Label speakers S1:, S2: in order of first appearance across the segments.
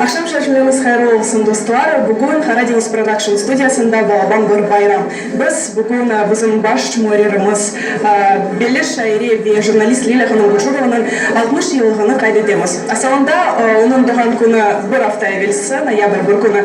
S1: Aqşam şaşmenıñız hayırlı olsun, dostlar! Bugün Qara deñiz production studiyasında Balaban bir bayram. Biz bugün bizim baş muarririmiz, belli şaire ve jurnalist Lilâ hanım Gurjurovanıñ altmış yıllığını qayd etemiz. Asalında onıñ doğğan künü bir afta evelsi, noyabr bir künü,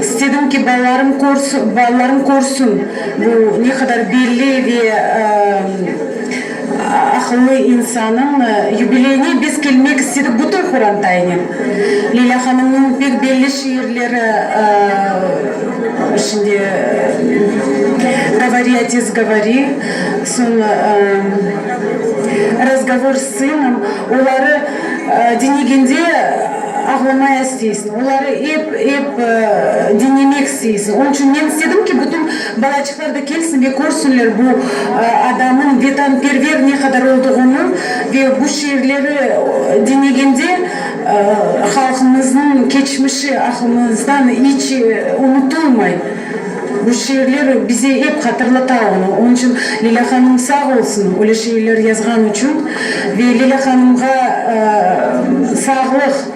S2: İstedim ki, balalarım balalarım körsün, bu ne qadar belli ve aqıllı insanıñ. Yubileyine biz kelmek istedik bütün Qurantaynen. Leyla hanımnıñ pek belli şiirleri şimdi Govori, otes, govori, soñ Razgovor s sınom, oları diñlegende ağlamay astı. Oları ep, ep diñlemek isteysiñ. Onıñ içün men istedim ki, bütün balaçıqlar da kelsin ve körsinler bu adamnıñ vetanperver ne qadar olduğını ve bu şiirleri diñegende halqımıznıñ keçmişi aqlımızdan iç unutılmay. Bu şiirler bize ep hatırlata onı. Onıñ içün Leyla hanım sağ olsun, öyle şiirler yazğanı içün ve Leyla hanımğa sağlıq.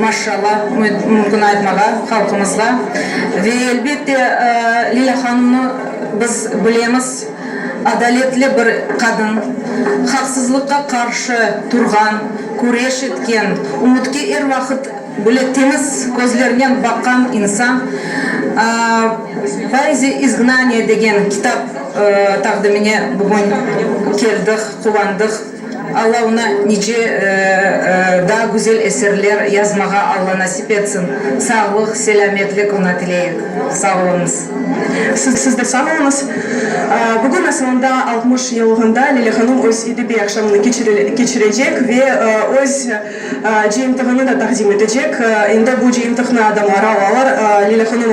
S3: Maşşalla, mümkün aytmağa halqımızğa. Ve, elbette, Leyla hanımnı biz bilemiz, adaletli bir qadın, haqsızlıqqa qarşı turğan, küreş etken, ümütke er vaqıt böyle temiz közlernen baqqan insan. Poeziya izgnaniya degen kitap taqdimine bugün keldik, quvandıq. Alla oña nice daa güzel eserler yazmağa Alla nasip etsin. Sağlıq, selâmetlik oña tileyik. Sağ oluñız. Siz
S1: de sağ oluñız. Bugün asılında altmış yıllığında Leyla hanım öz edebiy aqşamını keçirecek ve öz cıyıntığını da taqdim etecek. Endi bu cıyıntıqnı adamlar alalar. Leyla hanım